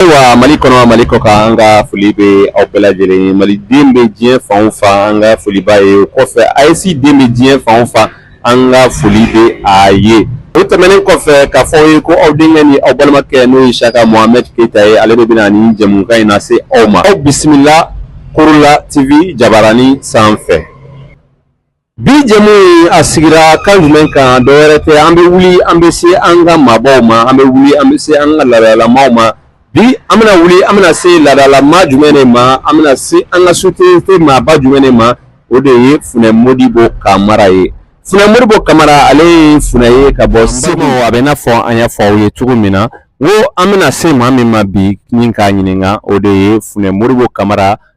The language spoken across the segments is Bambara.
ayiwa mali kɔnɔ mali kɔ kan an ka foli bɛ aw bɛɛ lajɛlen ye maliden bɛ diɲɛ fan o fan an ka foli b'a ye o kɔfɛ AES den bɛ diɲɛ fan o fan an ka foli bɛ a ye o tɛmɛnen kɔfɛ k'a fɔ aw ye ko aw denkɛ ni aw balimakɛ n'o ye siyaka mohamɛd keyita ye ale de bɛna nin jɛmukan in nase aw ma aw bisimila korola tv jabarani sanfɛ Bi jɛmu in a sigira kan jumɛn kan dɔ wɛrɛ tɛ an bɛ wuli an bɛ se an ka maabaw ma an bɛ wuli an bɛ se an ka laadalamaw ma bi an bɛna wuli an bɛna se laadalama jumɛn de ma an bɛna se an ka société maaba jumɛn de ma o de ye funɛ modibo kamara ye funɛ modibo kamara ale ye funɛ ye ka bɔ segu a bɛ n'a fɔ an y'a fɔ aw ye cogo min na wo an bɛna se maa min ma bi min k'a ɲininka o de ye funɛ modibo kamara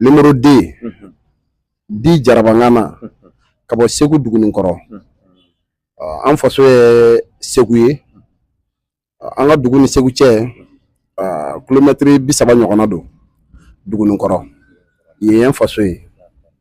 Numéro 2 unhun dit Jarabangana unhun ka bɔ Segu Duguninkɔrɔ unhun ɔ an faso ye Segu ye ɔ an ka dugu ni Segu cɛ ɔ kilomɛtiri bi saba ɲɔgɔnna don Duguninkɔrɔ yen ye an faso ye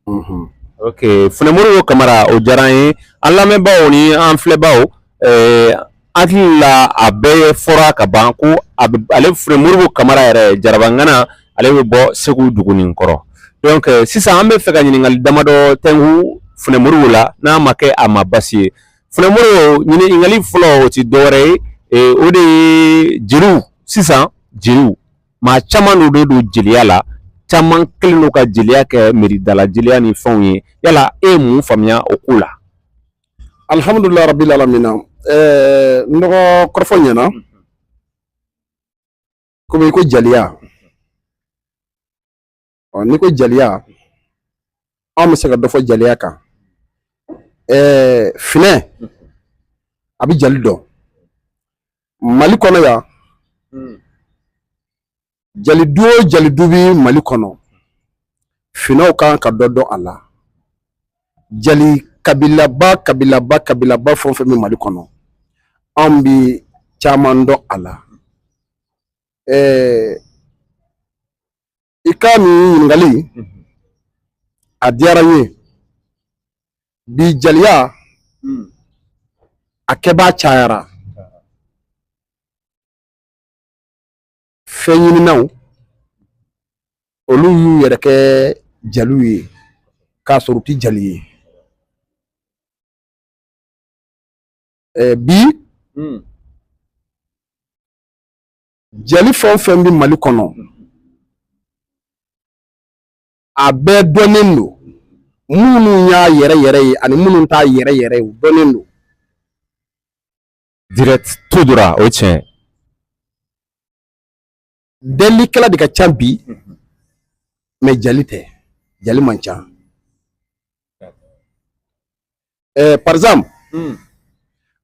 unhun ok Funɛ Modibo Kamara o diyara an ye an lamɛnbaaw ni an filɛbaaw ɛɛ hakili la a bɛɛ fɔra ka ban ko a bɛ ale funɛ modibo kamara yɛrɛ jarabangana ale bɛ bɔ segu duguninkɔrɔ donc euh, sisan an bɛ fɛ ka ɲininkali damadɔ tɛngu funɛ modibo la n'a ma kɛ a ma basi ye funɛ modibo ɲininkali fɔlɔ o ti dɔwɛrɛ ye e, o de ye jeliw sisan jeliw maa caman donnen don jeliya la caman kɛlen don ka jeliya kɛ miiridala jeliya ni fɛnw ye yala e ye mun faamuya o ko la alihamudulilahi rabili alamina ɛɛ n dɔgɔ kɔrɔfɔ ɲɛna komi i ko jaliya ɔ n'i ko jaliya anw bɛ se ka dɔ fɔ jaliya kan ɛɛ finɛ a bɛ jali dɔn mali kɔnɔ yan jalidu o jalidu bɛ mali kɔnɔ finɛw kan ka dɔ dɔn a la jali kabilaba kabilaba kabilaba fɛn o fɛn bɛ mali kɔnɔ anw bi caman dɔn a la ɛɛ i ka nin ɲininkali a diyara n ye bi jaliya a kɛbaa cayara fɛn ɲininaw olu y'u yɛrɛ kɛ jaliw ye k'a sɔrɔ u ti jali ye bi hmm. jali fɛn o fɛn bɛ mali kɔnɔ a bɛɛ dɔnnen don minnu y'a yɛrɛ yɛrɛ ye ani minnu t'a yɛrɛ yɛrɛ ye u dɔnnen don direct tout droit o ye tiɲɛ ye delilikɛla de ka ca bi mais jali tɛ jali man ca ɛɛ par exemple